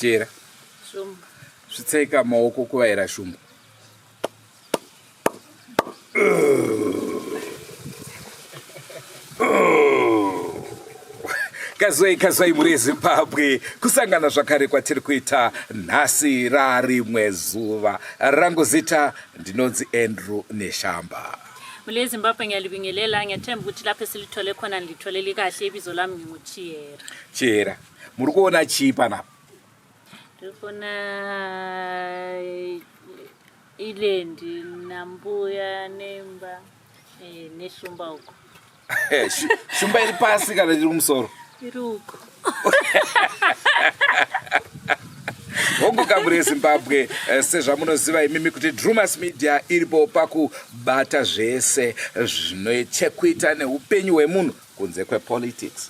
Chera. Shumba. Svitsaika maoko kuvaira shumba. kazwai kazwai muri ezimbabwe kusangana zvakare kwatiri kuita nhasi rarimwe zuva rangu zita ndinonzi andrew neshamba mule zimbabwe ngiyalibingelela ngiyathemba ukuthi lapho esilithole khona ngilitholele kahle ibizo lami nginguchiyera chiyera muri kuona chii panapa ndikuona eh, ilendi nambuya nemba eh, neshumba uko eh, shumba iri pasi kana iri kumusoro iri uko hongu kamuri yezimbabwe eh, sezvamunoziva imimi kuti drumas media iripo pakubata zvese zvine chekuita neupenyu hwemunhu kunze kwepolitics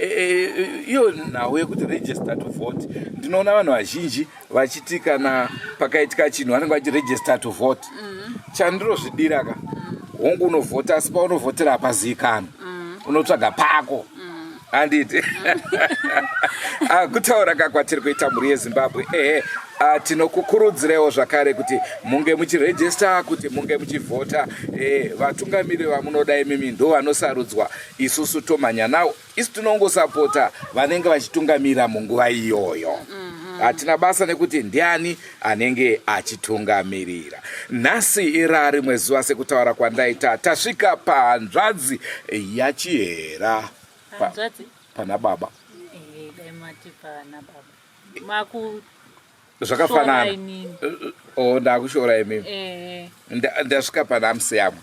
Eh, eh, eh, iyo nhau yekuti register to vote ndinoona vanhu vazhinji vachiti kana pakaitika chinhu vanenge vachi register to vote mm. chandirozvidira ka mm. hongu unovhota asi paunovhotera hapazikana mm. unotsvaga pako handiti ah, kutaura ka kwatiri kuita mhuri yezimbabwe ehe ah, tinokukurudzirewo zvakare kuti munge muchirejista kuti munge muchivhota vatungamiri vamunoda imimi ndo vanosarudzwa isusu tomhanya nawo isu tinongosapota vanenge vachitungamira munguva iyoyo mhm. hatina basa nekuti ndiani anenge achitungamirira nhasi ira rimwe zuva sekutaura kwandaita tasvika pahanzvadzi yachihera pa, pana baba eh, zvakafanana oh, ndakushora imimi eh. ndasvika pana amusiyamwa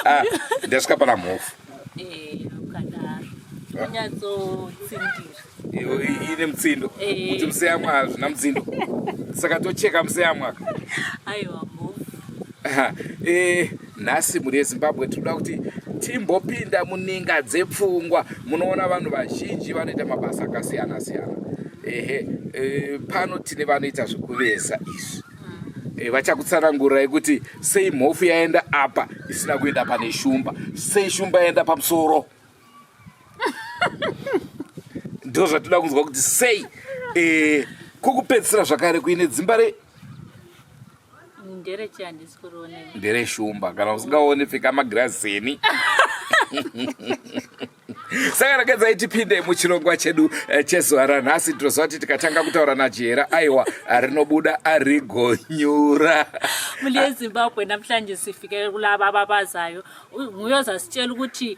ah, ndasvika pana mhofu eh, ine mutsindo eh. kuti musiyamwa hazvina mutsindo saka tocheka musiyamwa aiwa mhofu nhasi mhuri yezimbabwe tinoda kuti timbopinda muninga dzepfungwa munoona vanhu vazhinji vanoita mabasa akasiyana siyana ehe e, pano tine vanoita zvekuveza izvi e, vachakutsanangurai kuti sei mhofu yaenda apa isina kuenda pane shumba sei shumba yaenda pamusoro ndo zvatoda kunzwa kuti sei eh, kokupedzisira zvakare kuine dzimba re ndere shumba kana usingaone pfeka magirazi eni saka rakadzai tipinde muchirongwa chedu eh, chezuva ranhasi tinoziva kuti tikatanga kutaura najihera aiwa rinobuda arigonyura muli yezimbabwe namhlanje sifikele kulava babazayo muyoza sitshela ukuthi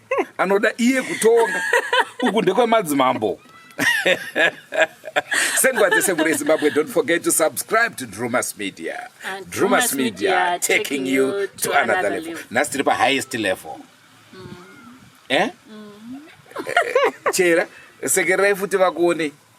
anoda iye kutonga uku ndekwemadzimambo sendwa dzese muri zimbabwe don't forget to subscribe to drumas media And drumas media taking you to another level nhasi tiri pahighest level mm. eh? mm. chera sekererai futi vakuonei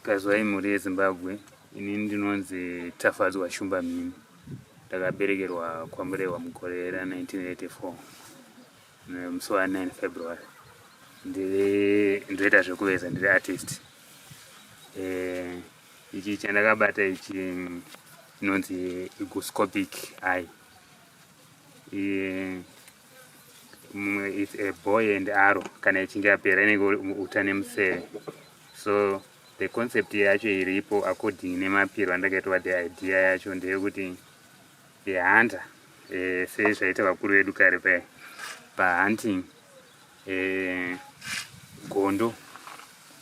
Kazwai mhuri yeZimbabwe, ini ndinonzi Tafadzwa Shumba Mhini. Ndakaberekerwa kwaMurehwa mugore ra 1984 nemusi wa 9 February. Ndiri ndoita zvekuveza ndiri artist. Eh, ichi chandakabata ichi mm, inonzi iguscopic eye. Eh, mumwe it's a boy and arrow kana ichinge yapera inenge uta nemuseve so the concept yacho iripo according nemapiro andakaitwa the idea yacho ndeyekuti the hunter eh, sezvaita vakuru vedu kare paya pahunting eh, gondo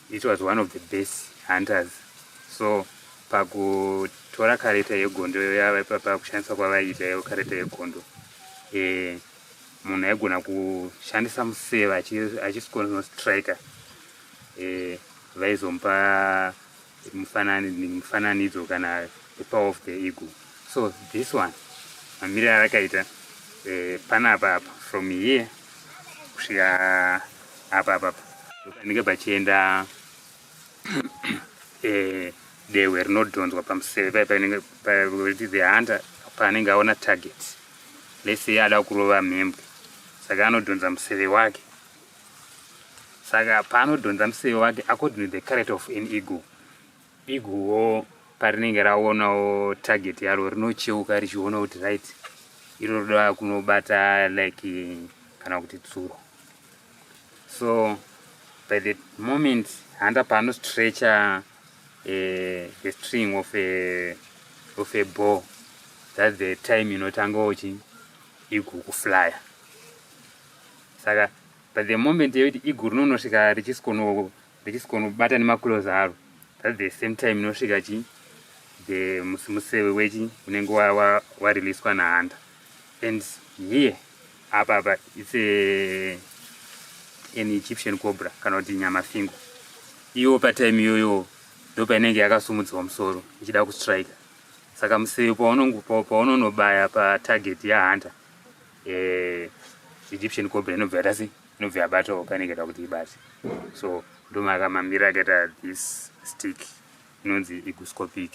it was one of the best hunters so pakutora kareta yegondo pakushandisa kwavaiita iyo kareta yegondo eh, munhu aigona kushandisa museva achisikonostriker eh, vaizomupa mufananidzo kana the power of the ego so this one mamiriro arakaita eh, panapa apa from here kusvika apa apa panenge pachienda eh, dehwe rinodhonzwa pamuseve pai panenge pakuti the hunter paanenge aona target lese ada kurova mhembwe saka anodhonza museve wake saka paanodhonza museve wake according to the character of an eagle iguwo parinenge raonawo target yaro rinocheuka richiona kuti right iro roda kunobata like kana kuti tsuro so by the moment handa paanostretcher eh, the string of a, of a ball that's the time inotanga uchi igukuflyer saka but the moment yekuti igu rinonosvika richisikonobata nemaclose aro that the same time inosvika chi the museve wechi unenge wareleaswa nahanda and here apa apa its a an egyptian cobra kana kuti nyama fingo iwo patime iyoyo ndo painenge yakasumudziwa musoro ichida kustrike saka museve paunonobaya patarget yahunter eh, egyptian cobra inobva yata sei inobva yabatawo pane ikaita kuti ibate so ndomakamamira akaita this stick inonzi iguscopic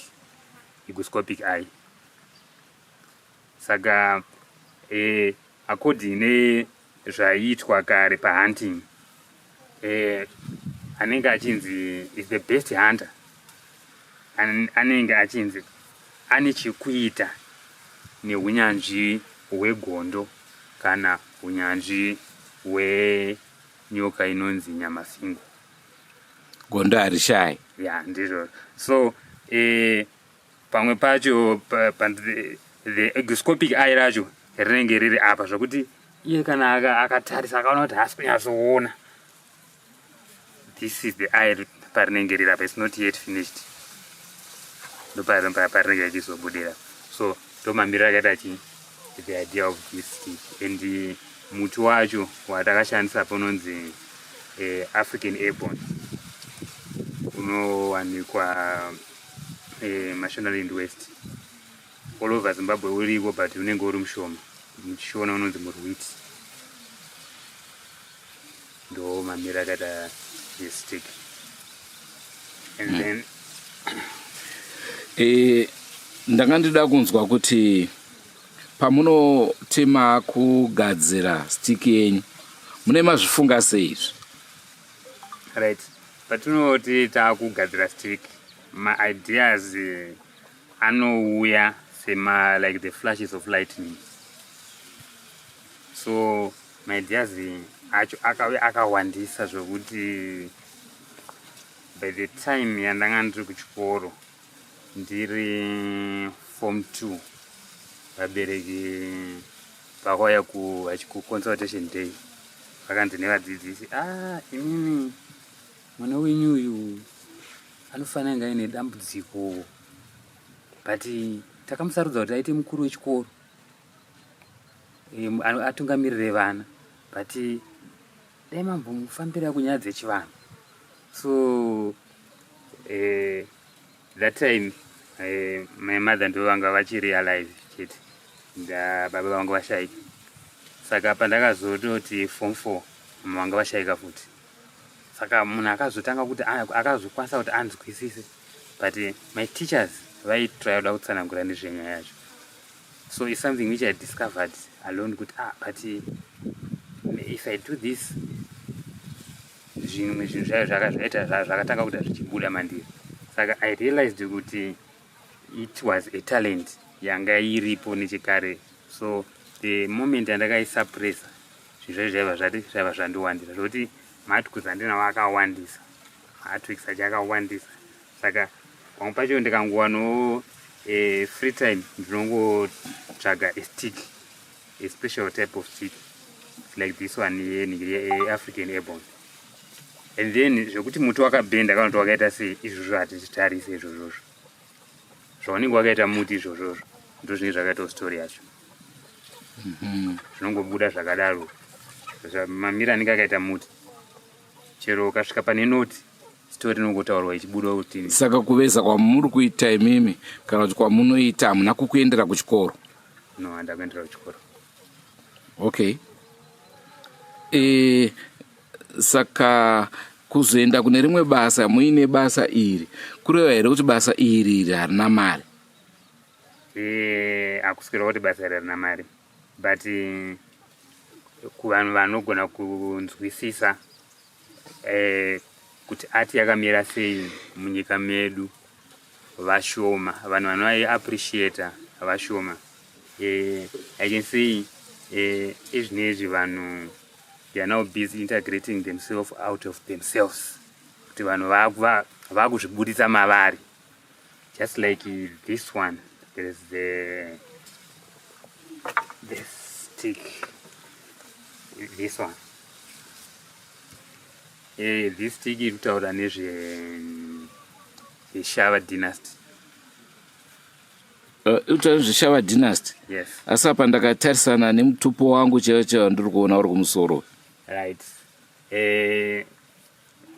iguscopic eye saka eh, according nezvaiitwa kare pahunting eh, anenge achinzi is the best hunter An, anenge achinzi ane chekuita neunyanzvi hwegondo kana unyanzvi hwenyoka inonzi nyamasingo gondo harishayi ya yeah, ndizvo so eh, pamwe pacho the exoscopic eye racho rinenge riri apa zvokuti iye kana akatarisa akaona kuti haasi kunyatsoona this is the eye parinenge riri apa its not yet finished ndoparinenge achizobudira so ndomamiriro akaita chi the idea of this stick and eh, muti wacho watakashandisa pononzi eh, african airborne unowanikwa eh, mashonaland west all over zimbabwe uriko but unenge uri mushoma muchishona unonzi murwiti ndo mamira akaita yestick and mm. then eh, ndanga ndida kunzwa kuti pamunoti makugadzira stick yenyu mune mazvifunga seizvi right Patinoti takugadzira stick, ma ideas anouya sema like the flashes of lightning. So ma ideas acho akauya akawandisa zvekuti by the time yandanga ndiri kuchikoro ndiri form 2 vabereki Pakauya kuconsultation day vakanzi nevadzidzisi ah, imimi mwana wenyu uyu anofanira kunge aine dambudziko but takamusarudza kuti aite mukuru wechikoro atungamirire vana but dai mambomufambira kunyaya dzechivanhu so eh, that time eh, my mother ndo vanga vachiri alive chete baba vanga vashaika saka pandakazototi form four mama vanga vashaika futi saka munhu akazotanga kuti akazokwanisa kuti anzwisise but eh, my teachers vaitraya kuda kutsanangura nezvenyaya yacho so is something which i discovered alone kuti ah but eh, if i do this zvimwe zvinhu zvayo zvakazvaita zvazvo zvakatanga kuita zvichibuda mandiri saka i realized kuti it was a talent yanga iripo nechekare so the moment yandakaisuppressa zvinhu zvayo zvaiva zvati zvaiva zvandiwandisa zvokuti matwiks andinawo akawandisa matwiks achi akawandisa saka pamwe pacho ndikangowanawo eh, free time ndinongotsvaga estick a special type of chick it's like this one yeafrican airborn and then zvekuti muti wakabhenda kana kuti wakaita sei izvozvo hatichitarise izvozvozvo zvaunenge wakaita muti izvozvozvo ndo zvinenge zvakaitawo story yacho mhm. zvinongobuda zvakadaro mamira anenge akaita muti chero ukasvika pane noti story inongotaurwa ichibuda kuti saka kuveza kwamuri kuita imimi kana kuti kwamunoita hamuna kukuendera kuchikoro no handa kuendera kuchikoro okay e, saka kuzoenda kune rimwe basa muine basa iri kureva here kuti basa iri iri harina mari eh, hakusi kureva kuti basa iri harina mari but kuvanhu vanogona kunzwisisa eh, kuti ati yakamira sei munyika medu vashoma vanhu vanoiappreciata vashoma eh, i can say eh, ezvinezvi vanhu they are now busy integrating themselves out of themselves kuti vanhu vakuzvibuditsa mavari just like this one there is the the stick this one eh this stick iri kutaura nezve zveshava dynasty eh, utaura zveshava dynasty yes asi apa ndakatarisana nemutupo wangu chaiwo chaiwo ndiri kuona uri kumusoro right eh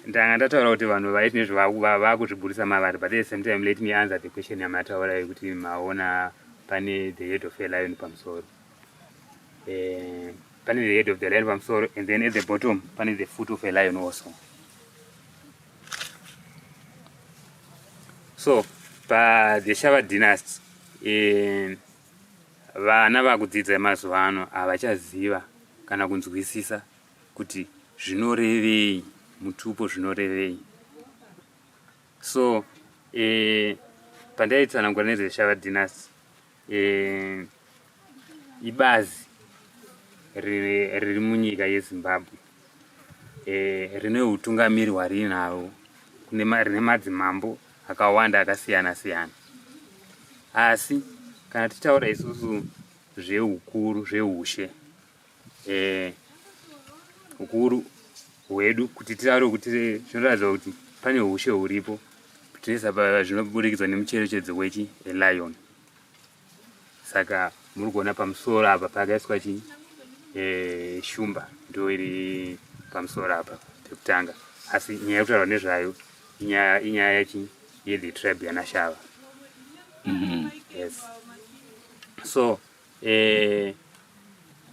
ndanga ndataura kuti vanhu vaiti nezvavakuzviburitsa mavari but the same time let me answer the question yamataura yekuti maona pane the head of a lion pamusoro eh, pane the head of the lion pamusoro and then at the bottom pane the foot of a lion also so pa the shava dynasty eh, vana vakudzidza mazuva ano havachaziva kana kunzwisisa kuti zvinorevei mutupo zvinorevei so eh, pandaitsanangura nezveshava dynasty eh, ibazi riri munyika yezimbabwe eh, rine utungamiri hwariinavo rine madzimambo akawanda akasiyana siyana asi kana tichitaura isusu zveukuru zveushe eh, ukuru hwedu kuti titaure kuti zvinoratidza kuti pane ushe huripo tese apa zvinoburikidzwa nemucherechedzo wechi elion saka muri kuona pamusoro apa pakaiswa chi eh, shumba ndo iri pamusoro apa pekutanga asi nyaya yekutaurwa nezvayo inyaya inyaya yachi yethe tribe yanashava mm -hmm. yes so eh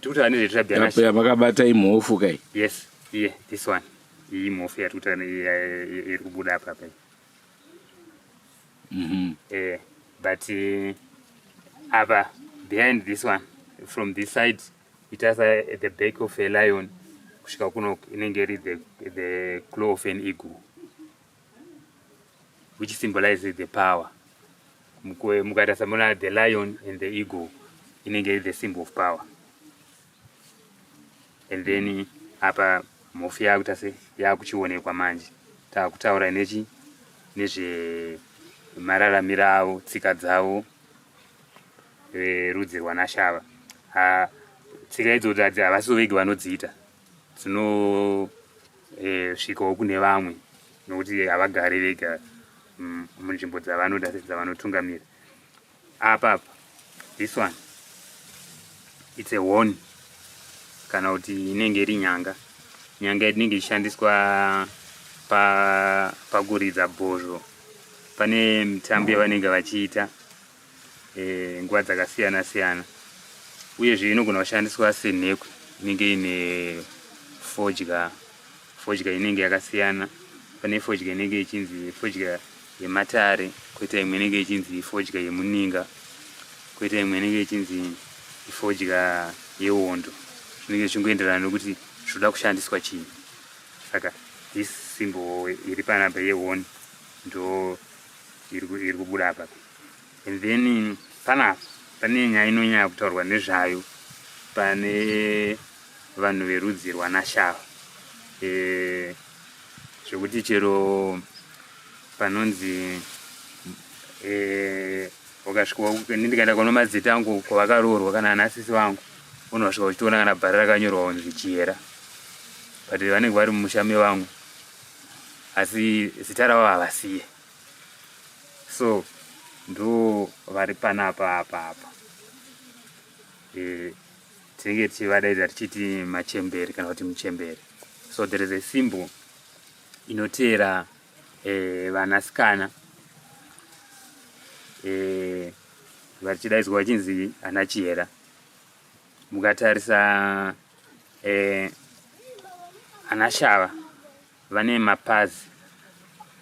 tikutaura nezve tribe yanashe Yapeya makabata imhofu kai. yes iye this one iyi mhofu yatikutaura ne- ya- ya- ya- iri kubuda apa apa iyi. Mhm. eh but eh, apa behind this one from this side it has a, the back of a lion kusvika kuno inenge iri the, the claw of an eagle which symbolizes the power mukaita samona the lion and the eagle inenge iri the symbol of power and then apa mhofu yakuita se yakuchionekwa manje takutaura nechi nezve mararamiro avo tsika dzavo verudzi rwanashava tsika idzodzo havasi vovege vanodziita dzinosvikawo eh, kune vamwe nokuti havagari vega mm, munzvimbo dzavanoda dzavanotungamira apa apa this one its a one kana kuti inenge iri nyanga nyanga inenge ichishandiswa pakuridza bhozho pane mitambo yavanenge vachiita eh, nguva dzakasiyana siyana uyezve inogona kushandiswa senhekwe inenge ine fodya fodya inenge yakasiyana pane fodya inenge ichinzi fodya yematare koita imwe inenge ichinzi fodya yemuninga koita imwe inenge ichinzi fodya yewondo zvinenge zvichingoenderana nokuti zvoda kushandiswa chii saka this symbol iri panapa yehon ndo iri kubuda apa and then panapa pane nyaya inonyanya kutaurwa nezvayo pane vanhu verudzi rwanashava e, zvekuti chero panonzi e, ukasvika ndikaenda kuno madzita angu kwavakaroorwa kana anasisi vangu unosvika uchitoona kana bhara rakanyorwa kunzi chiyera but vanenge vari mumusha mevamwe asi zita ravo havasiye so ndo vari panapa apa apa e, tinenge tichivadaidza tichiti machembere kana kuti muchembere so there is a symbol inoteera e, vanasikana e, vachidaidzwa vachinzi ana chihera Mukatarisa eh, ana shava vane mapazi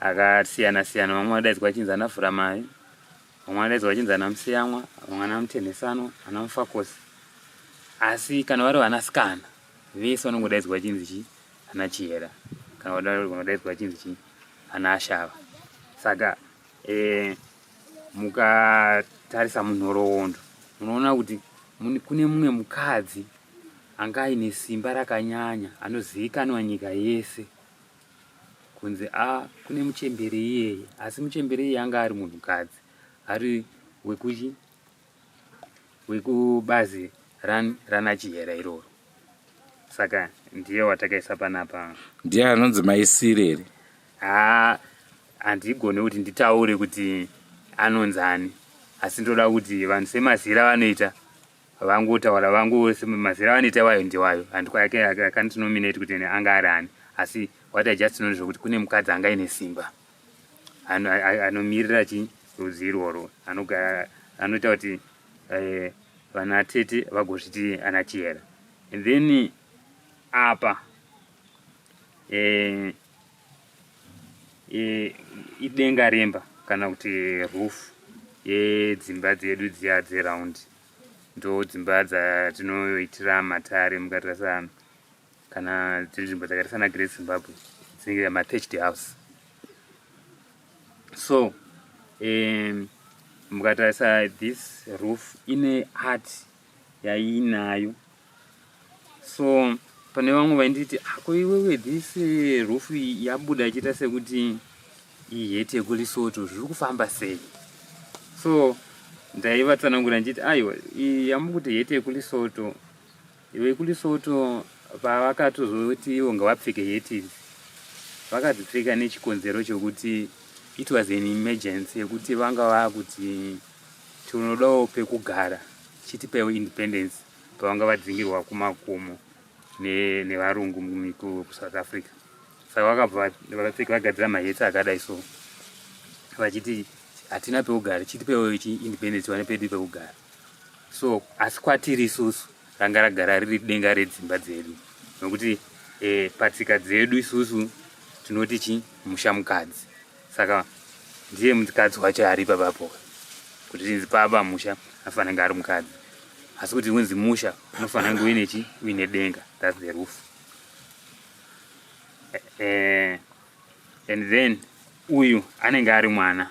akasiyana siyana, vamwe vadaidzwa chinzi ana Vhuramai, vamwe vadaidzwa chinzi ana Musiyamwa, vamwe ana Mutenhesanwa, ana Mufakosi. Asi kana vari vanasikana vese vanongodaidzwa chinzi chi ana Chihera, kana vanodaidzwa chinzi chi ana Ashava. Saka eh, mukatarisa munhoroondo munoona kuti kune mumwe mukadzi anga aine simba rakanyanya anozivikanwa nyika yese kunzi a kune muchembere iyeye asi muchembere iyeye anga ari munhukadzi ari wekuchi wekubazi ran, rana chihera iroro saka ndiye watakaisa panapa ndiye anonzi maisiri here haa handigone kuti nditaure kuti anonzi ani asi ndoda kuti vanhu semazira vanoita vangotaura vangu semazira vanoita wayo ndiwayo handikwaake akandinominate kuti anga ari ani asi what i just know ndezvekuti kune mukadzi anga ine simba anomirira ano chi rudzi irworwo anogara anoita kuti eh, vana tete vagozviti ana chihera and then apa eh, eh, idenga remba kana kuti roof yedzimba dzedu dziya dzeround ndo dzimba dzatinoitira matare mukatarisa kana dziri nzvimbo dzakaita sana great zimbabwe dzinenge matached house so um, mukatarisa this roof ine art yaiinayo so pane vamwe vainditi ako iwewe this eh, roof yabuda ichiita sekuti iheti yekulisoto zviri kufamba sei so ndaivatsanangura ndichiti aiwa yamukuti heti yekulisoto Iwe kuLesotho pavakatozoti ivo ngavapfeke hetis vakadzipfeka nechikonzero chokuti it was an emergency yekuti vanga vakuti tinodawo pekugara chitipewo independence pavanga vadzingirwa kumakomo nevarungu ne kusouth africa saka vakabva vapfeka vagadzira mahetsi akadai so vachiti hatina pekugara chitipewo independence vane pedu pekugara so asi kwatiri isusu ranga ragara riri denga redzimba dzedu nokuti e, patsika dzedu isusu tinoti chi musha mukadzi saka ndiye mukadzi wacho ari papapo kuti tinzi paba musha afanira kunge ari mukadzi asi kuti unzi musha unofanira kunge uine chi uine denga thats the roof uh, and then uyu anenge ari mwana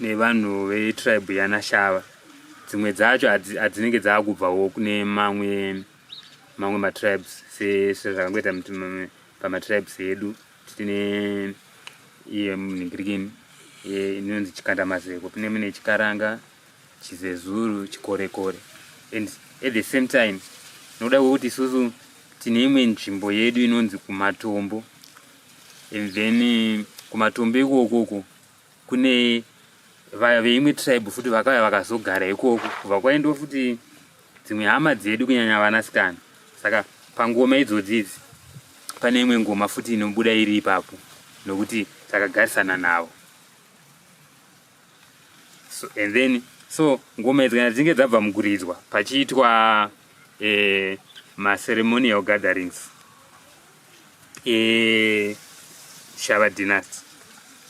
nevanhu vetribe yanashava dzimwe dzacho adzinenge dzaakubvawo kune mamwe mamwe matribes sezvakangoita pamatribes edu tine iye munhingirikini inonzi chikandamazeko pine mune chikaranga chizezuru chikorekore and at the same time nokuda kwekuti isusu tine imwe nzvimbo yedu inonzi kumatombo and then kumatombo ikokoko kune vaya veimwe tribe futi vakauya vakazogara ikoko kubva kwaindiwo futi dzimwe hama dzedu kunyanya vanasikana saka pangoma idzodzi idzi pane imwe ngoma futi inobuda iri ipapo nokuti takagarisana navo so, and then so ngoma idzi kana dzinge dzabva mukuridzwa pachiitwa eh, maceremonial gatherings eShava Dynasty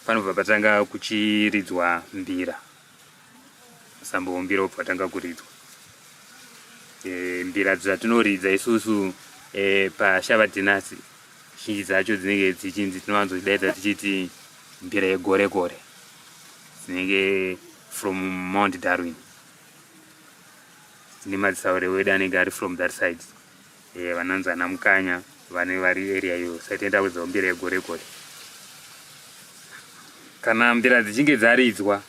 panobva patanga kuchiridzwa mbira sambo mbira obva atanga kuridzwa e, mbira dzatinoridza isusu e, paShava Dynasty zhinji dzacho dzinenge dzichinzi tinowanzodaidza tichiti mbira yegore gore dzinenge from Mount Darwin dzine madzisaurewedu anenge ari from that side Eh, vanonzi ana mukanya vane vari area iyo sati enda kudzawo mbira yegore gore kana mbira dzichinge dzaridzwa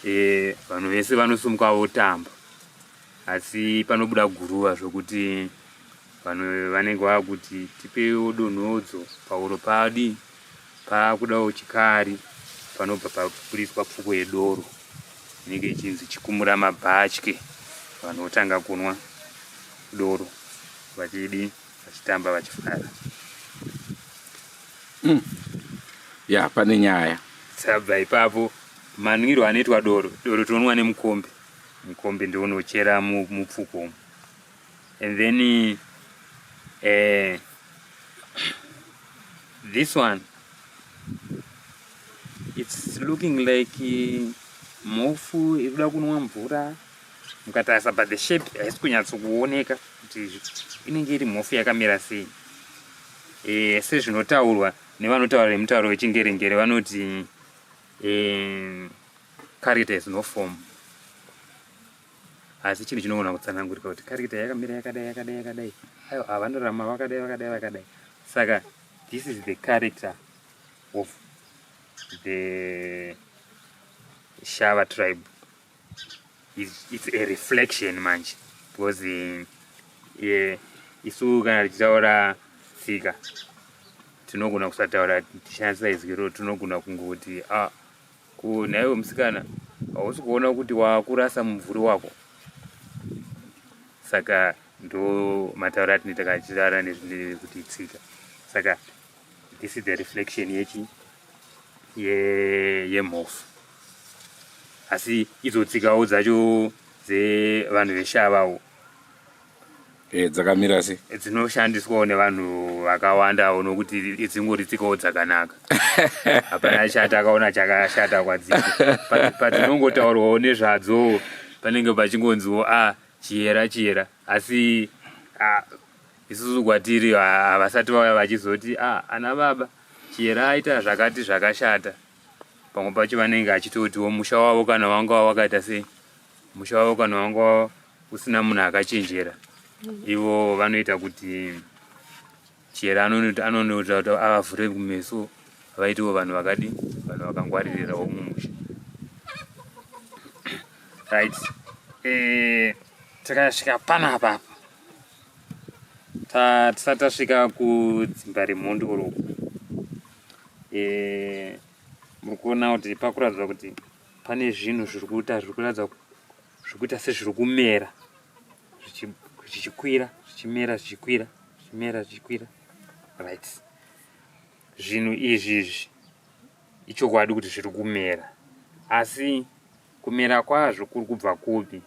eh, vanhu vese vanosumuka votamba asi panobuda guruva zvokuti vanhu vanenge vakuti tipewo donhodzo pauro padi Paakudawo chikari panobva paburitswa pfuko yedoro inenge ichinzi chikumura mabhatye. Vanhu votanga kunwa doro vachidi vachitamba vachifara. Mm. Ya pane nyaya. Sabva ipapo manwiro anoitwa doro, doro tinonwa nemukombe. Mukombe ndiwo unochera mupfuko umu. and then uh, this one it's looking like eh, mhofu iri kuda kunwa mvura mukatarisa but the shape haisi kunyatsokuoneka kuti inenge iri mhofu yakamira sei e, sezvinotaurwa nevanotaura nemutauro wechingerengere vanoti e, caritas no form asi chinhu chinogona kutsanangurika kuti karikita yakamira yakadai yakadai yakadai aiwa ah, vanorama vakadai vakadai vakadai saka this is the character of the shava tribe it's, it's a reflection manje because eh, yeah, isu kana tichitaura tsika tinogona kusataura tichanisa izwi ro tinogona kungoti ah, Ko nhaiwe musikana hausi kuona kuti wakurasa mumvuri wako saka ndo mataura atinoita kana tichitaura nezvekuti tsika saka this is the reflection yechi yemhofu asi idzo tsikawo dzacho dzevanhu veshavawo Eh, dzakamira se eh, dzinoshandiswawo nevanhu vakawandawo nokuti dzingori tsikawo dzakanaka hapana chati akaona chakashata kwadzii padzinongotaurwawo nezvadzo panenge pachingonziwo a ah, chiyera chiyera asi ah, isusu kwatiri ah, havasati vauya vachizoti a ana baba chiyera aita zvakati zvakashata pamwe pacho vanenge achitotiwo musha wavo kana wanga wakaita sei musha wavo kana wanga wavo kusina munhu akachenjera ivo vanoita kuti chera anonoita kuti avavhure kumeso vaitiwo vanhu vakadi vanhu vakangwaririrawo mumusha right eh, tikasvika pana apa apa tisati tasvika kudzimba remhondi oroko eh, muri kuona kuti pakuratidza kuti pane zvinhu zviri kuita zviri kuratidza zvekuita sezviri kumera zvichikwira zvichimera zvichikwira zvichimera zvichikwira right zvinhu izvi izvi ichokwadi kuti zviri kumera asi kumera kwazvo kuri kubva kupi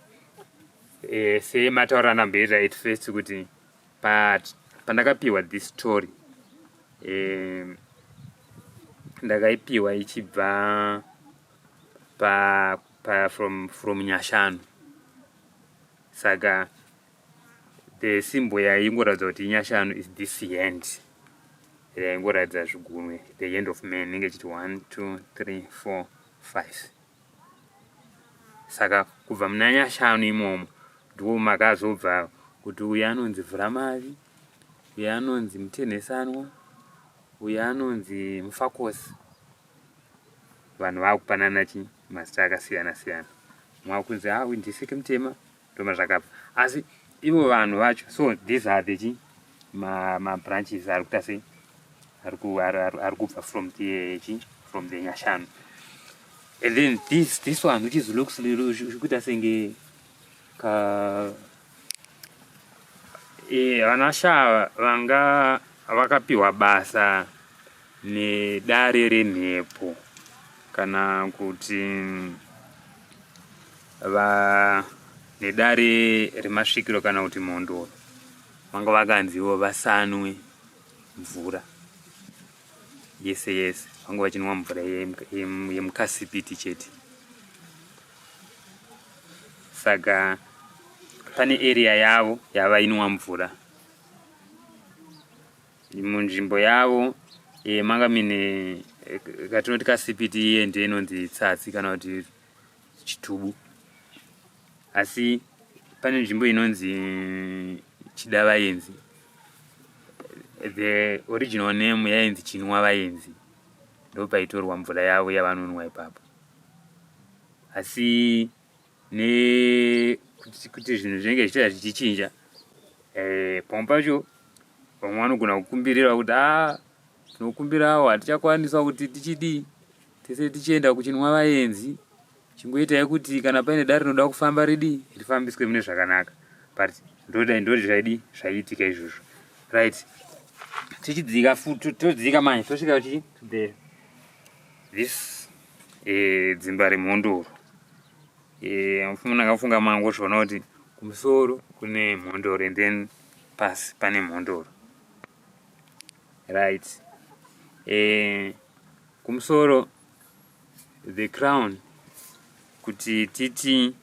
e, eh, semataura anamboita at first kuti but pandakapiwa this story e, ndakaipiwa ichibva pa paya from from nyashanu saka the symbol yaingoratidza kuti nyashanu is this hand yaingoratidza zvigunwe the hand of man inenge chiti 1 2 3 4 5 saka kubva muna nyashanu imomo ndiwo makazobva kuti uyu anonzi vhuramavi uyu anonzi mutenhesanwa uyu anonzi mufakosi vanhu vakupanana chi mazita akasiyana siyana mwa kunzi ha ah, windisiki mutema ndoma zvakabva asi ivo vanhu vacho so these are the chi ma ma branches ari kuita sei ari ku ari kubva from the chi from the nyashanu and then this this one which is looks kuita senge ka Eh, vana shava vanga vakapiwa basa nedare remhepo kana kuti va nedare remasvikiro kana kuti mhondoro vanga vakanziwo vasanwe mvura yese yese vangu vachinwa mvura yemukasipiti chete saka pane area yavo yavainwa mvura munzvimbo yavo e, manga mine eh, katinoti kasipiti iye ndiye inonzi tsatsi kana kuti chitubu asi pane nzvimbo inonzi chidavayenzi the original name yainzi chinwa vayenzi ndopaitorwa mvura yavo yavanonwa ipapo asi ne kuti zvinhu zvinenge zvichita zvichichinja eh, pamwe pacho vamwe vanogona kukumbirira kuti a ah, Tinokumbirawo hatichakwanisa kuti tichidii tese tichienda kuchinwa vaenzi chingoitai kuti kana paine dare rinoda kufamba ridii rifambiswe mune zvakanaka but ndodai ndoti zvaidii zvaiitika izvozvo right tichidzika futi todzika manje tosvika kuchii to the this eh, dzimba remhondoro eh, mfumuna akafunga mango zvoona kuti kumusoro kune mhondoro and then pasi pane mhondoro right eh, kumusoro the crown kuti titi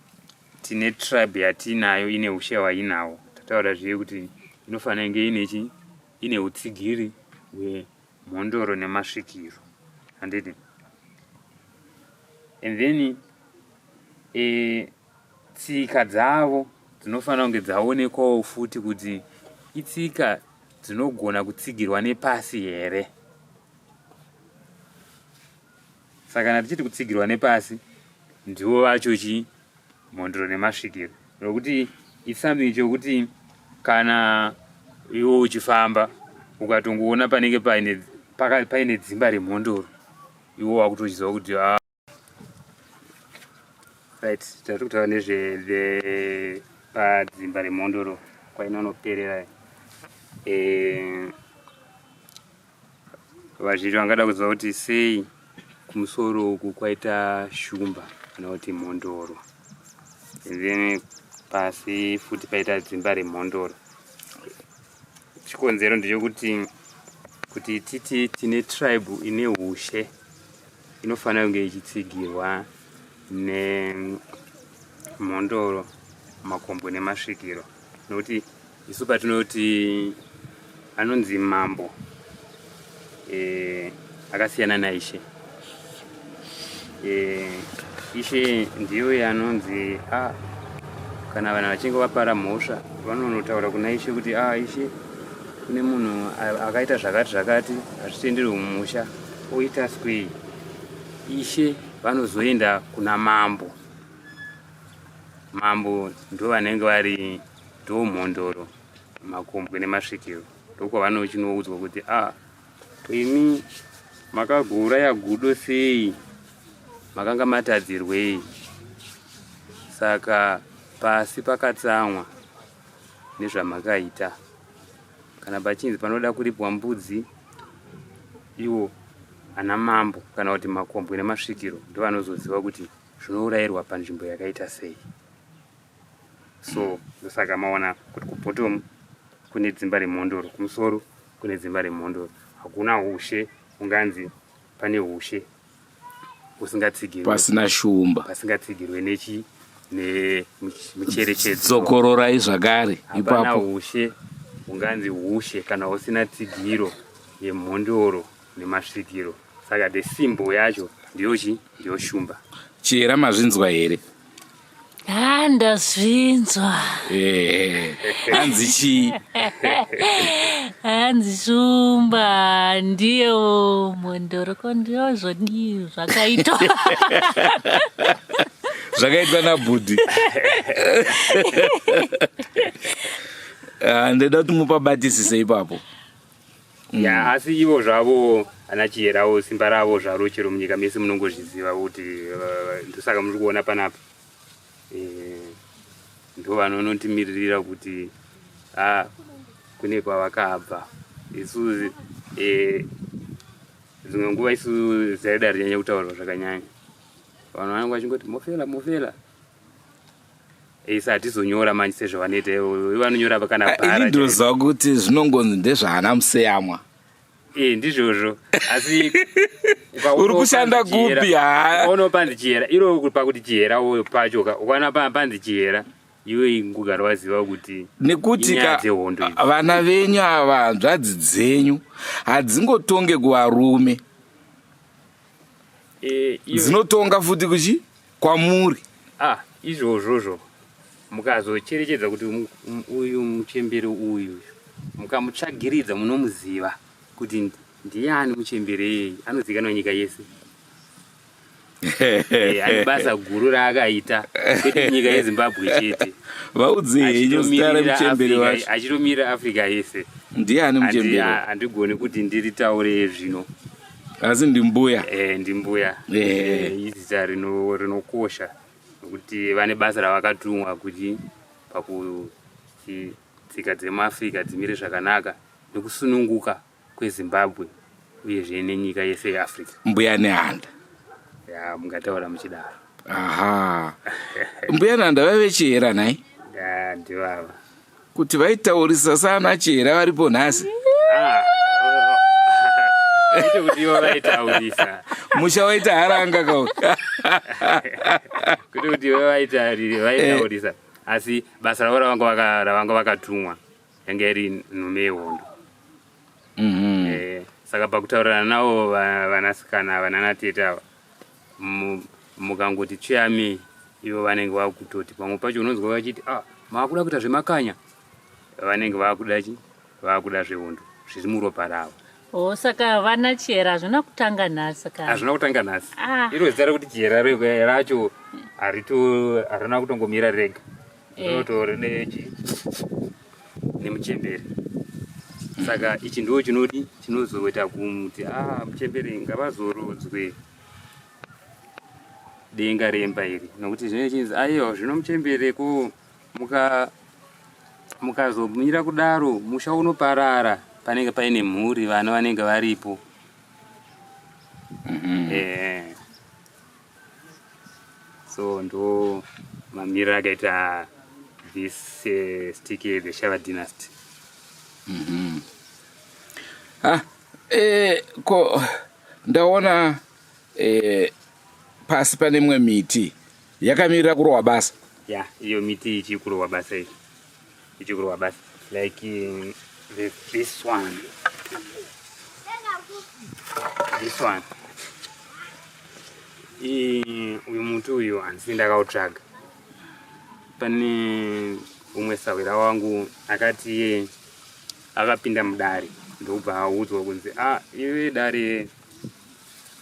tine tribe yatiinayo ine ushe wainawo tataura zviye kuti inofanira inge inechi ine utsigiri hwemhondoro nemasvikiro handiti and then eh, Tsika dzavo dzinofanira kunge dzaonekwawo futi kuti itsika dzinogona kutsigirwa nepasi here. Saka kana tichiti kutsigirwa nepasi, ndivo vacho chii mhondoro nemasvikiro, nokuti it's something chokuti kana iwo uchifamba ukatongoona panenge paine dzimba remhondoro iwo wakutochiziva kuti ah, right tati kutaura nezve padzimba remhondoro kwainonoperera eh, vazhinji vangada kuziva kuti sei kumusoro uku kwaita shumba kana kuti mhondoro then pasi futi paita dzimba remhondoro chikonzero ndechekuti kuti titi tine tribe ine ushe inofanira kunge ichitsigirwa nemhondoro makombwe nemasvikiro nokuti isu patinoti anonzi mambo eh, akasiyana naishe eh, ishe ndiyo yanonzi ah, kana vanhu vachinge vapara mhosva vanonotaura kuna ishe kuti ah, ishe kune munhu akaita zvakati zvakati hazvitenderwe mumusha oita swei ishe vanozoenda kuna mambo mambo ndo vanenge vari ndomhondoro makombwe nemasvikiro ndokwavanochinoudzwa kuti a ah, imi makagouraya gudo sei makanga matadzirwei saka pasi pakatsamwa nezvamakaita kana pachinzi panoda kuripwa mbudzi iwo ana mambo kana kuti makombwe nemasvikiro ndovanozoziva kuti zvinourayirwa panzvimbo yakaita sei so ndosaka maona kuti kubhotomu kune dzimba remhondoro kumusoro kune dzimba remhondoro hakuna ushe unganzi pane ushe usingatsigirwe pasina shumba pasingatsigirwe nechi nemucherechedzo dzokororai zvakare ipapo ushe unganzi ushe kana usina tsigiro yemhondoro nemasvikiro saka the simbo yacho ndiyochi ndiyo shumba chihera mazvinzwa here Ah, ndazvinzwa Eh, hanzi chii hanzi shumba ndiye umwe ndoroko ndiyozvodii zvakaitwa zvakaitwa nabhudhi Ah, ndoda kuti mupabatisise ipapo mm. ya yeah, asi ivo zvavo ana chiyerawo simba ravo zvaro chero munyika mese munongozviziva kuti uh, ndosaka muri kuona panapa e, ndo vanonontimiririra kuti a ah, kune kwavakabva isu e, dzimwe nguva isu zaida rinyanya kutaurwa zvakanyanya vanhu vanenge vachingoti mofela mofela isi hatizonyora manje sezvavanoita vanonyora vakana ah, bhara ini ndinoziva kuti zvinongonzi ndezvaana museyamwa ee eh, ndizvozvo asi uri kushanda kupi haono panzi chihera iro pakuti chihera uyo pacho ukaona panzi chihera iwe ngugara waziva kuti nekuti vana venyu ava hanzvadzi dzenyu hadzingotonge kuvarume eh, dzinotonga futi kuchi kwamuri ah izvozvozvo mukazocherechedza kuti uyu muchembere uyu mukamutsvagiridza munomuziva kuti ndiani muchembere iyeye anozikanwa nyika yese eh, ane basa guru raakaita kwete nyika yezimbabwe chete vaudzeiachitomirira africa yese ndiani muchembere handigoni kuti ndiritaure zvino asi ndimbuya eh, ndimbuya eh. izita rinokosha nokuti vane basa ravakatumwa kuti pakuti tsika dzemuafrica dzimire zvakanaka nekusununguka kwezimbabwe uyezve nenyika yese yeafrica mbuya nehanda ya mungataura muchidaro aha mbuya nehanda vaive chihera nhai ndivava kuti vaitaurisa sana chihera varipo nhasi ah, musha waita haranga kau kuti kuti vaitaurisa asi basa ravo ravanga vakatumwa yange iri nhume yehondo mhm. eh, saka pakutaurirana navo vanasikana vananatete ava mukangoti tsveyamei ivo vanenge vakutoti pamwe pacho unonzwa vachiti ah maakuda kuita zvemakanya vanenge vakuda chi vakuda zvehondo zviri muropa ravo Oh, saka vana chihera hazvina kutanga nhasi ka hazvina kutanga nhasi ah. iro zita rekuti chihera racho harina kutongomira rega Rotori nechi nemuchembere saka ichi ndo chinodi chinozoita kumuti ah muchembere ngavazorodzwe denga remba iri nokuti zvine chinzi aiwa zvino muchembere ko muka mukazomira kudaro musha unoparara panenge paine mhuri vana vanenge varipo mm -hmm. eh. so ndo mamiriro akaita this uh, stick the shava dynasty mm -hmm. ah, eh, ko ndaona eh, pasi pane imwe miti yakamirira kurohwa basa ya yeah, iyo miti ichikurohwa basa iyi ichikurwa basi like um, this one this one uyu muti uyu handisi ndakautsvaga pane umwe sahwira wangu akati iye akapinda mudare ndokubva audzwa kunzi a ah, iwe dare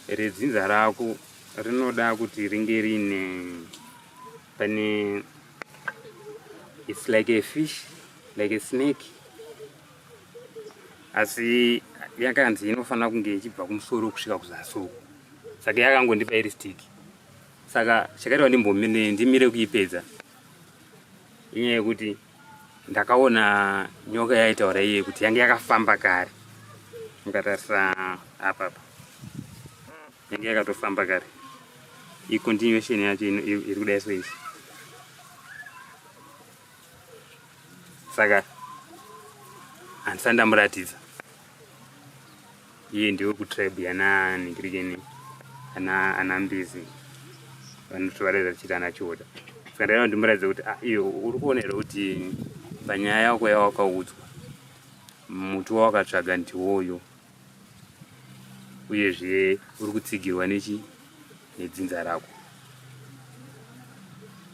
redzinza rako rinoda kuti ringe riine pane its like a fish like a snake asi yakanzi inofanira kunge ichibva kumusoro kusvika kuzasi uku saka yakangondipa iri stiki saka chakaitwa ndimbomine ndimire kuipedza inyaya yekuti ndakaona nyoka yaitaura iye kuti yange yakafamba kare mukatarisa apapa yange yakatofamba kare icontinuation yacho iri kudai so izvi saka handisati ndamuratidza iye ndiwe kutribe yananhikirikeni ana mbizi vanotovareza chiti ana chiota saka ndaida kuti ndimuratidze kuti ah, iyo uri kuona here kuti panyaya yako yawakaudzwa muti wawakatsvaga ndiwoyo uyezve uri kutsigirwa nechi nedzinza rako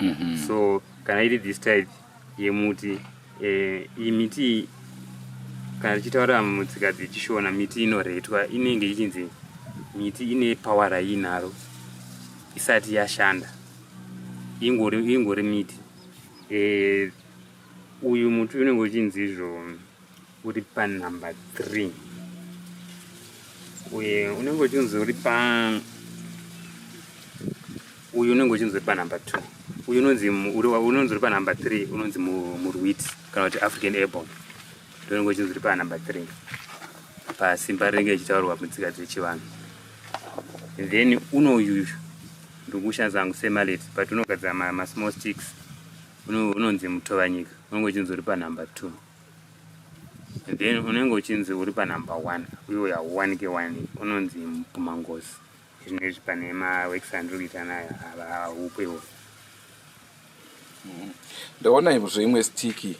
mm -hmm. so kana iri this type yemuti eh, iyi miti kana tichitaura mutsika dzechishona miti inoretwa inenge ichinzi miti ine power raiinaro isati yashanda ingori ingori miti eh, uyu muti unenge uchinzi izvo uri panumber three uye unenge uchinzi uri pa uyu unenge uchinzi uri panumber two uyu unonzi unonzi uri panumber three unonzi murwit kana kuti african airborne ndonenge uchinzi uri panumber three pasimba rinenge ichitaurwa mutsika dzechivanhu then unoyuyu ndikushandisa hangu semalet but unogadzira masmall sticks unonzi mutovanyika unenge uchinzi uri panumber two then unenge uchinzi uri panumber one uyo yawanike wani unonzi mpumangozi izvino izvi pane maworks andiri kuita nayo haupe wo mm-hmm. ndaona imuzvo imwe stiki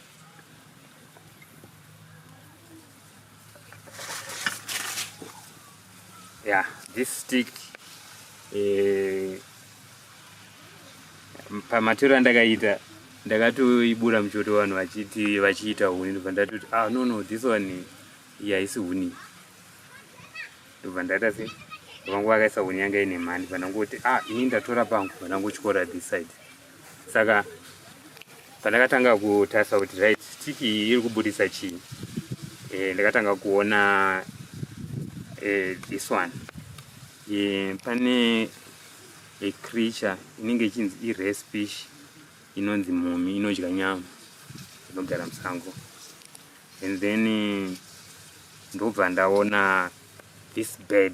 Yeah, this stick eh, pamatero andakaita ndakatoibura muchoto vanhu vachiti vachiita huni ndobva ndatoti ah no no this one yaisi huni ndobva ndaita se vangu vakaisa huni yanga ine mhani vanangoti ah ini ndatora pangu vanangotyora this side saka pandakatanga kutarisa kuti right stick iyi iri kubudisa chii e, ndakatanga kuona e, this one e, pane a creature inenge ichinzi irace fish inonzi mumi inodya nyama inogara musango and then ndobva ndaona this bed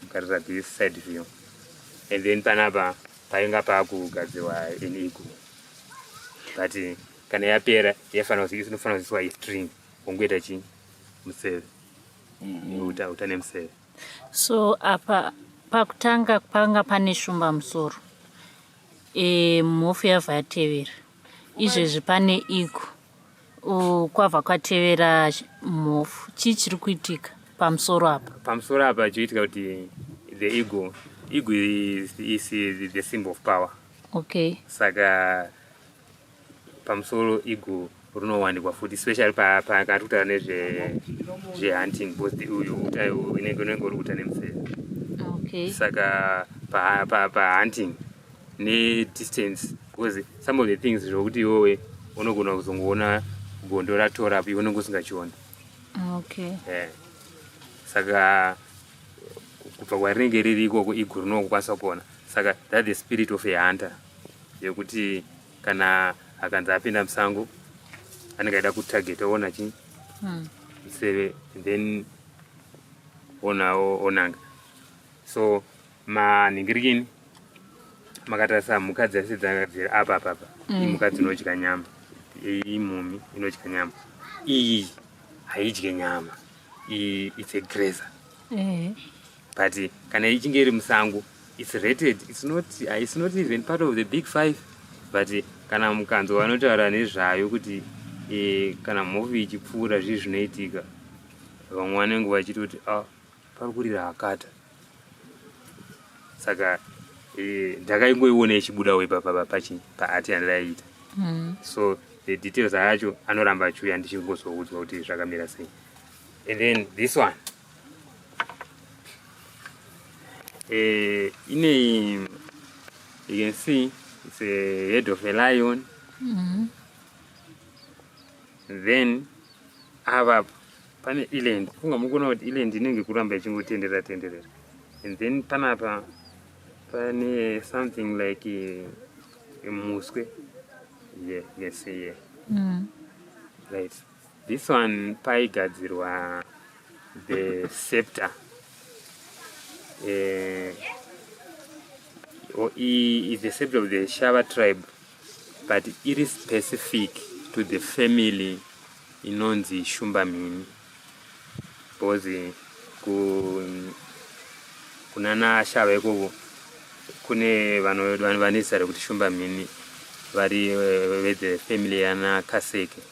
kutarisa this side view and then panapa painga pakugadzirwa an eagle but eh, kana yapera yafanira inofanira kuziwa istring ungoita chi museve mm-hmm. uta uta nemuseve so apa pakutanga panga pane shumba musoro e, mhofu yavha yatevera izvezvi pane eagle kwava kwatevera mhofu chii chiri kuitika pamusoro apa pamusoro apa chikuitika kuti the ego ego is, is the symbol of power okay saka pamusoro ego runowanikwa futi especially pakati kutaura nezvehunting because uyu uta inenge unenge uri kuta nemuseve okay saka pahunting pa, pa, pa ne distance because some of the things zvokuti iwowe unogona kuzongoona gondo ratora apo unenge usingachiona okay yeah. saka kubva kwarinenge riri ikoko iguru nokukwanisa kuona saka that the spirit of a hunter yekuti kana akanzi apinda musango anenge aida kutarget oona chii hmm. museve then onawo onanga so manhingirikini makatarisa mhuka dzese dzakadzira apa apa apa mm. imhuka dzinodya nyama imhumi inodya nyama iyi haidye nyama iyi its a grazer eh. but kana ichinge iri musango its rated its not its not even part of the big five but kana mukanzo vanotaura nezvayo kuti eh, kana mhovi ichipfuura zvii zvinoitika vamwe vanenge vachitoti ah, pari kurira hakata saka eh, ndakaingoiona e, ichibudawo ipapa pachi paati yandaiita mm. so the details acho anoramba achiuya ndichingozoudzwa kuti zvakamira sei and then this one eh, ine you can see it's a head of a lion mm. then avapo pane iland funga muri kuona kuti iland inenge kuramba ichingotenderera tenderera and then panapa pane something like eh, muswe yeah, yes yeah. Mm. right this one paigadzirwa the scepter uh, or is the scepter of the shava tribe but iri specific to the family inonzi shumba mhini because kunana ashava ikoko kune vane zita rekuti shumba mhini vari eh, vethe family yana kaseke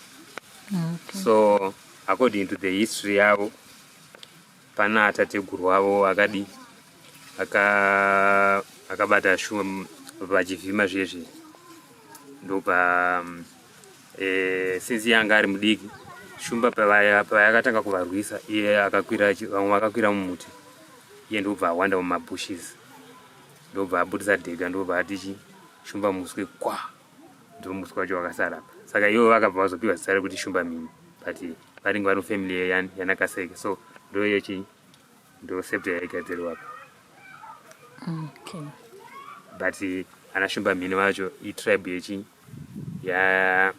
okay. so according to the history yavo Pana tateguru wavo akadi aka akabata shuwa vachivhima zviye zviye ndopa um, e, eh, sinzi yanga ari mudiki shumba payakatanga kuvarwisa iye akakwira vamwe vakakwira mumuti iye ndobva awanda mumabushes ndobva abudisa dhega ndobva atichi shumba muswe kwa ndomuswa wacho wakasara apa saka ivo vakabva vazopiwa zita rekuti shumba mhini but varinge vari mufamily yeyani yanakaseke so ndo yechi ndo septa yaigadzirwa apa okay. but ana shumba mhini vacho itribe yechi ya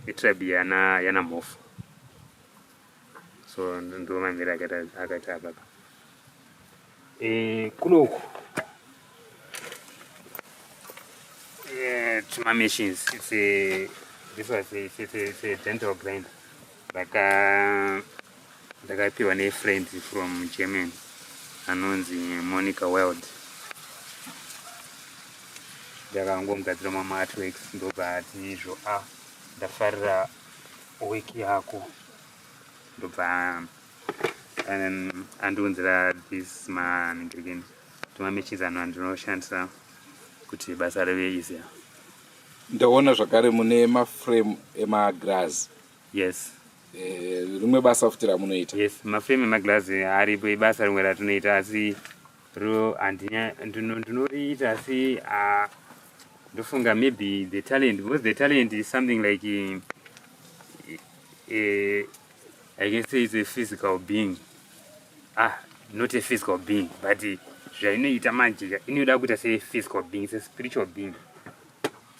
itribe yana yana mhofu so ndiwo mamira akaita apapa eh, kuno uku eh, tuma machines it's a, this was a, it's a, it's a dental grinder ndaka ndakapiwa nefriend from germany anonzi monica wild ndakangomugadzira mama artworks ndobva ati izvo a ah, ndafarira week yako ndobva um, andiunzira this manigirigini tumamechizi ano andinoshandisa kuti basa rive easier ndaona zvakare mune maframe emaglass yes eh, rimwe basa futi ramunoita yes maframe emaglass aripo ibasa rimwe ratinoita asi Ro andinya ndino ndinoriita asi ah ndofunga maybe the talent because the talent is something like a, a, I can say it's a physical being. Ah, not a physical being, but zvainoita manje inoda kuita se physical being, it's a spiritual being.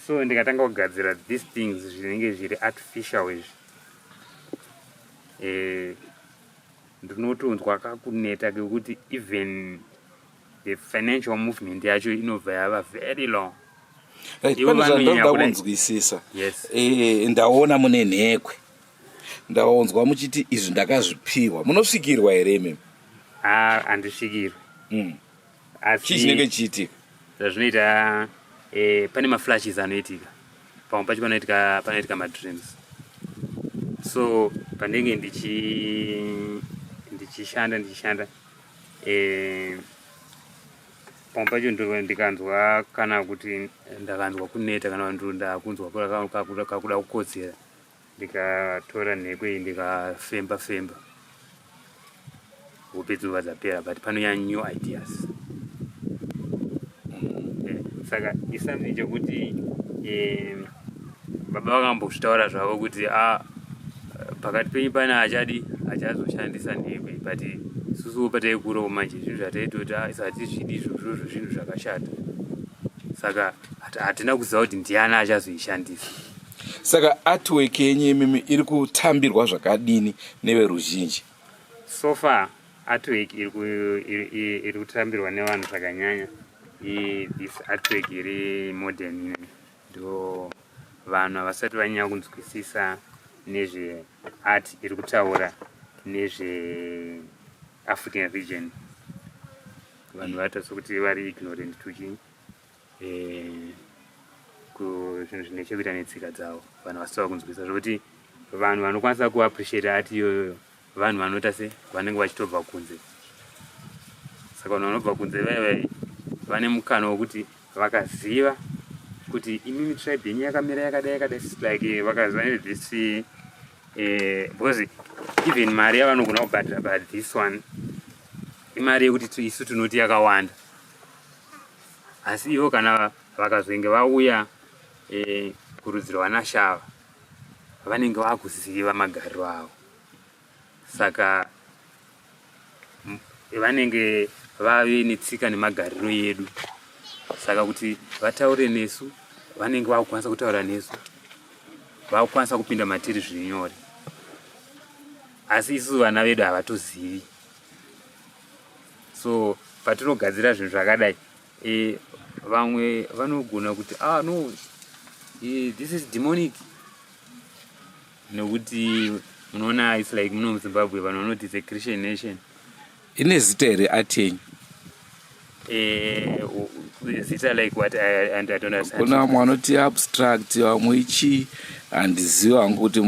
So ndikatanga kugadzira these things zvinenge zviri artificial izvi. Eh ndinotonzwa kakuneta kekuti even the financial movement yacho inobva yava very long right, pane zvandoda kunzwisisa yes. e, ndaona mune nhekwe ndaonzwa muchiti izvi ndakazvipiwa munosvikirwa here imimi ah, handisvikirwe mm. chii chinenge chichiitika zvazvinoita eh, pane maflashes anoitika pamwe pacho panoitika panoitika madreams so pandenge ndichi ndichishanda ndichishanda eh, pamwe pacho ndikanzwa kana kuti ndakanzwa kuneta kana ndakunzwa kakuda kukodzera ndikatora nheko iyi ndikafemba femba hope dzinova dzapera but panouya new ideas eh, saka is something chekuti eh, baba vakambozvitaura zvavo kuti a ah, pakati penyu pane achadi achazoshandisa nheko iyi but susuwo pataikurowo manje zvinhu zvataitoti ah, isatizvidi izvozvozvo zvinhu zvakashata saka hatina kuziva kuti ndiani achazoishandisa Saka artwork yenyu imimi iri kutambirwa zvakadini neveruzhinji? So far artwork iri kutambirwa nevanhu zvakanyanya this artwork iri modern ine ndo vanhu havasati vanyanya kunzwisisa nezve art iri kutaura nezve african region vanhu vataso kuti vari ignorant tuchii eh, zvinhu zvine chekuita netsika dzavo vanhu vasitava kunzwisa zvokuti vanhu vanokwanisa kuappreciate ati iyoyoyo vanhu vanoita se vanenge vachitobva kunze saka vanhu vanobva kunze vaiva vane mukana wekuti vakaziva kuti imimi tribe yenyu yakamira yakadai yakadai like vakaziva this eh, because even mari yavanogona kubhadhira but this one imari yekuti isu tinoti yakawanda asi ivo kana vakazenge vauya e, kurudziro vanashava vanenge vakuziva magariro avo saka vanenge vave netsika nemagariro yedu saka kuti vataure nesu vanenge vakukwanisa kutaura nesu vakukwanisa kupinda matiri zviri nyore asi isusu vana vedu havatozivi so patinogadzira zvinhu zvakadai e, vamwe vanogona kuti ah no e, this is demonic nekuti munoona its like muno muzimbabwe vanhu vanoti the christian nation ine zita here atenyi eh, zita like what I, and I don't understand. Kuna vamwe vanoti abstract vamwe ichi handizivi hangu kuti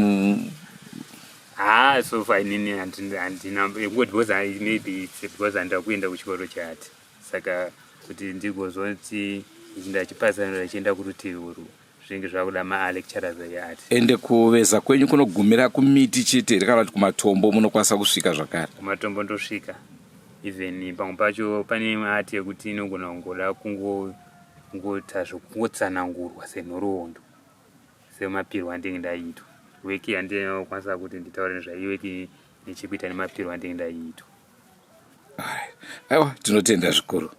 haa so far inini handina kungoti because maybe its because handida kuenda kuchikoro chati saka kuti ndigozoti ndachipatsanura ichienda kurutivi urwu zvinenge zvakuda maalecturers ake ati ende kuveza kwenyu kunogumira kumiti chete here kana kuti kumatombo munokwanisa kusvika zvakare kumatombo ndosvika even pamwe pacho pane imwe ati yekuti inogona kungoda kungoita zvekungotsanangurwa senhoroondo semapirwo andinge ndaiitwa weki handina kukwanisa kuti nditaure nezvayo weki nechekuita nemapirwo andinge ndaiitwa aiwa tinotenda zvikuru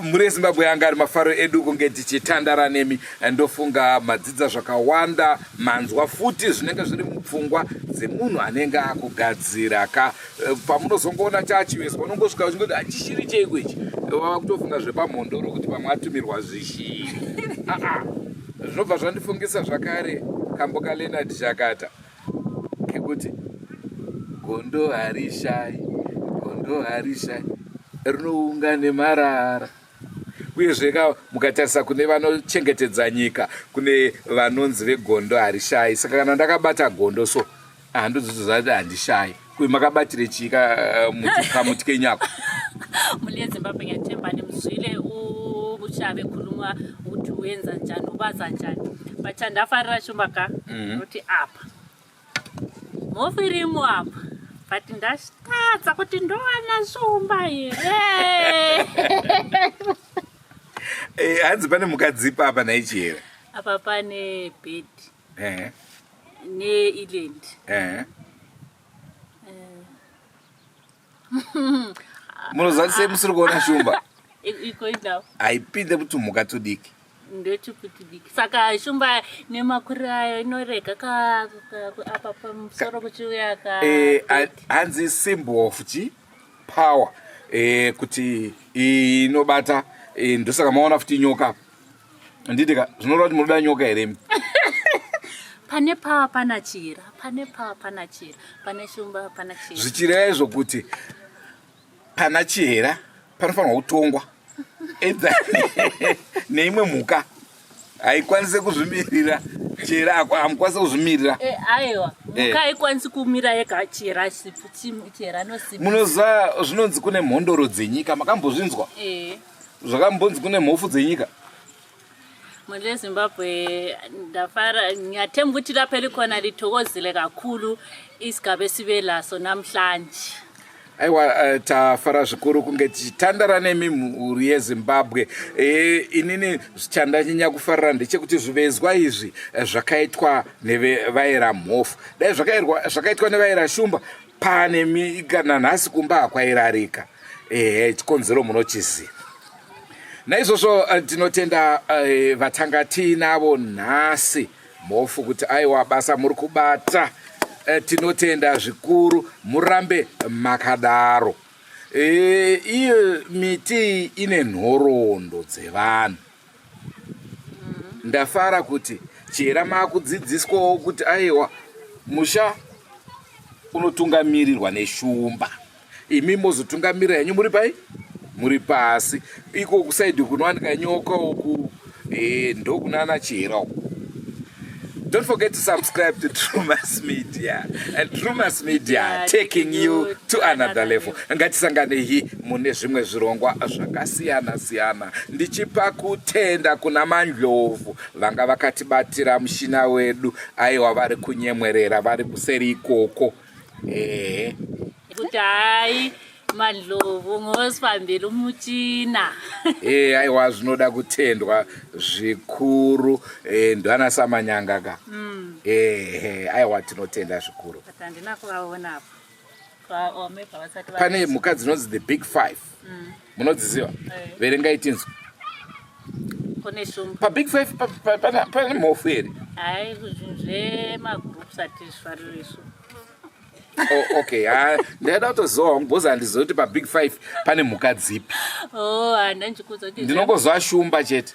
mhuri yezimbabwe yanga ari mafaro edu kunge tichitandara nemi ndofunga madzidza zvakawanda manzwa futi zvinenge zviri mupfungwa dzemunhu anenge akugadzira ka Eh, pamunozongoona chachivezwa unongosvika uchingoti hachishiri cheiko ichi wava eh, kutofunga zvepamhondoro kuti pamwe atumirwa zvishiri ah, ah. zvinobva zvandifungisa zvakare kambo kaleonard chakata kekuti gondo harishai gondo harishai rinounga nemarara uyezve ka mukatarisa kune vanochengetedza nyika kune vanonzi vegondo harishai saka kana ndakabata gondo so handozotoziva kuti handishayi kuve makabatire chii eh, kamuti kenyu ako muli yezimbabwe nyatemba nemuzvile uchave khuluma ukuthi wenza njani ubaza njani but andafarira shumba ka mhm. kuti apa mofirimu apa but ndashitadza kuti ndowana shumba here eh, hanzi pane mukadzi ipa apa naichi here apa pane bedi eh. neiland eh. munoziva sei musiri kuona shumba haipinde kutumhuka tudiki ndechipitidiki saka shumba nemakuri ayo inorega apa pamusoro kuchiuya ka eh, hanzi symbol of chi power eh, kuti inobata eh, ndosaka maona futi nyoka handiti ka zvinoreva kuti munoda nyoka here mi pane pawa pana chira pane pawa pana chira pane shumba pana chira zvichireva izvo kuti pana chihera panofanirwa kutongwa edza neimwe mhuka haikwanise kuzvimirira chihera hamukwanise kuzvimirira eh, aiwa eh. mhuka haikwanisi kumira yega chihera sipu chihera nosimunoziva zvinonzi kune mhondoro dzenyika makambozvinzwa eh. zvakambonzi kune mhofu dzenyika mhuri yezimbabwe ndafara nyatemba kuti lape likona litokozile kakhulu isigabe sibe laso namhlanje aiwa eh, tafara zvikuru kunge tichitandara nemi mhuri yezimbabwe e, inini zvichandanyanya kufarira ndechekuti zvivezwa izvi eh, zvakaitwa nevaera mhofu dai zvakaitwa nevaera shumba pane nanhasi kumba hakwairarika ehe chikonzero munochiziva naizvozvo eh, tinotenda eh, vatanga tiinavo nhasi mhofu kuti aiwa basa muri kubata eh, tinotenda zvikuru murambe makadaro iyo miti ine nhoroondo dzevanhu ndafara kuti chihera maakudzidziswawo kuti aiwa musha unotungamirirwa neshumba imi mozotungamirira henyu muri pai muri pasi iko kusaidi kunowanika nyoka uku e, ndokunana chihera uku Don't forget to subscribe to Drewmas Media. And Drewmas Media yeah, taking you to another level. Ngatisanganehi mune zvimwe zvirongwa zvakasiyana siyana. Ndichipa kutenda kuna Mandlovu vanga vakatibatira mushina wedu aiwa vari kunyemwerera vari kuseri ikoko. ehe kuti hayi madlovu ngosifambira umuchina ee eh, aiwa zvinoda kutendwa zvikuru e, eh, ndwana samanyanga ka mm. ehe eh, aiwa tinotenda zvikuru pane mhuka dzinonzi the big five mm. munodziziva eh. verengai tinzwa pabig five pane mhofu here hai zvemagroups hatizvifariri isu Oh, okay ha ah, ndaida kutozowa mubhozi handiziva kuti pabig five pane mhuka dzipi oh, ndinongozoa shumba chete